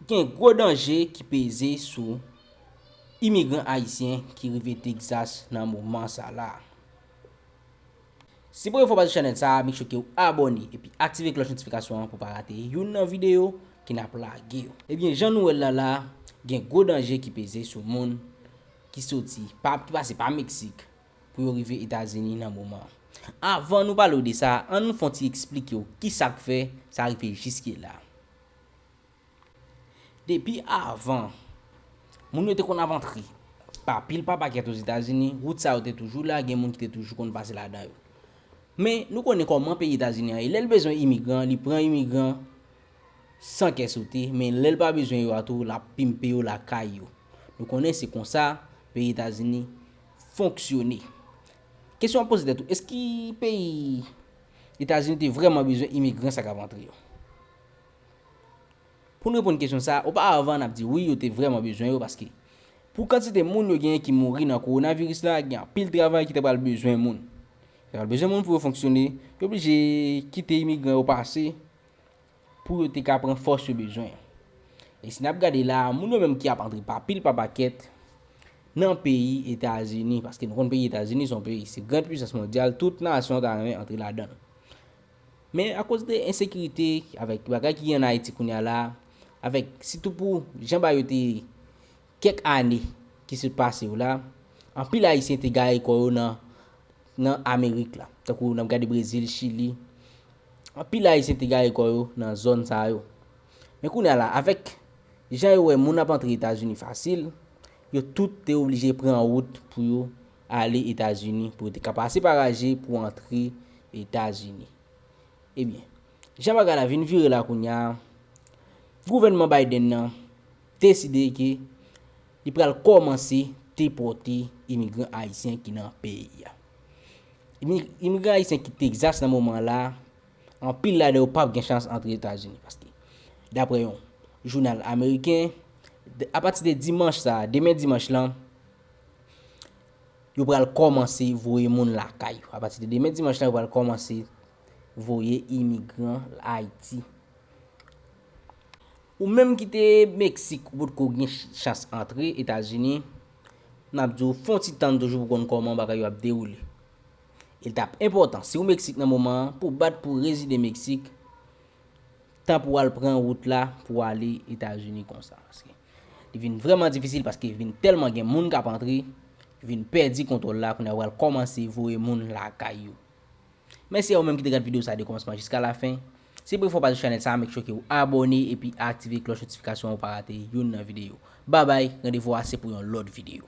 Gen gwo danje ki peze sou imigran ayisyen ki rive Texas nan moman sa la. Si premye fwa w pase sou chanèl sa a, make sure ke w abòne epi aktive klòch notifikasyon an pou w pa rate youn nan videyo ke n ap lage yo. Ebyen jan nou wè l la la, gen gwo danje ki peze sou moun ki soti, ki pase pa Meksik pou yo rive Etazini nan moman. Avan nou pale w de sa, an nou fè yon ti eksplike w kisa k fè sa rive jiske la. Depi avan, moun yo te konn ap antre pa pil pa pakèt Ozetazini, wout sa yo te toujou la, gen moun ki te toujou konn pase ladan yo. Men, nou konnen kòman peyi Etazini an ye, lè l bezwen imigran, li pran imigran san kè sote, men lè l pa bezwen yo a tou, l ap pimpe yo lakay yo. Nou konnen se konsa peyi Etazini fonksyone. Kesyon w ap poze tèt ou, èske peyi Etazini te vrèman bezwen imigran sa k ap antre yo? Pou n reponn kesyon sa a, oparavan n ap di wi yo te vrèman bezwen yo paske pou kantite moun yo genyen ki mouri nan kowonaviris la gen anpil travay ki ta pral bezwen moun. Yo ta pral bezwen moun pou yo fonksyone, yo blije kite imigran yo pase pou yo te ka pran fòs yo bezwen an. E si n ap gade la a, moun yo menm ki ap antre pa pil pa pakèt nan peyi Etazini, paske nou konn peyi Etazini se yon peyi se grand pwisans mondyal tout nasyon ta renmen antre ladan l. Men akoz de ensekirite avèk bagay ki gen an Ayiti kounye a la, avèk sitou pou jan bagay yo te ye kèk ane ki sot pase yo la, anpil Ayisyen te gare kò yo nan nan Amerik la. Tankou n ap gade Brezil, Chili. Anpil Ayisyen te gare kò yo nan zòn sa yo. Men kounye a la, avèk jan yo wè moun ap antre Etazini fasil, yo tout te oblije pran wout pou yo ale Etazini pou yo te ka pase pa Raje pou antre Etazini. Ebyen, jan bagay la vin vire la kounya, gouvènman Biden nan deside ke li pral kòmanse depòte imigran ayisyen ki nan peyi a. Imigran ayisyen ki Texas nan moman la, anpil ladan yo pap gen chans antre Etazini paske daprè yon jounal ameriken, apati de dimanch sa a, demen dimanch lan, Yo pral kòmanse voye moun lakay yo. Apati de demen dimanch la yo pral kòmanse voye imigran Ayiti. Ou menm ki te Meksik ou potko gen chans antre Etazini, n ap di w fon ti tann toujou pou konn kòman bagay yo ap dewoule. E l t ap enpòtan si w Meksik nan moman an pou w bat pou rezide Meksik tan pou w al pran wout la pou w ale Etazini konsa. Li vin vrèman difisil paske vin tèlman gen moun k ap antre, yo vin pèdi kontwòl la kounye a yo pral kòmanse voye moun lakay yo. Mèsi a ou menm ki te gad videyo sa de kòmansman jiska lafen. Si premye fwa w pase sou chanèl sa a make sure ke ou abòne epi aktive klòch notifikasyon an pou w pa rate youn nan videyo. Babay, randevou a se pou yon lòt videyo.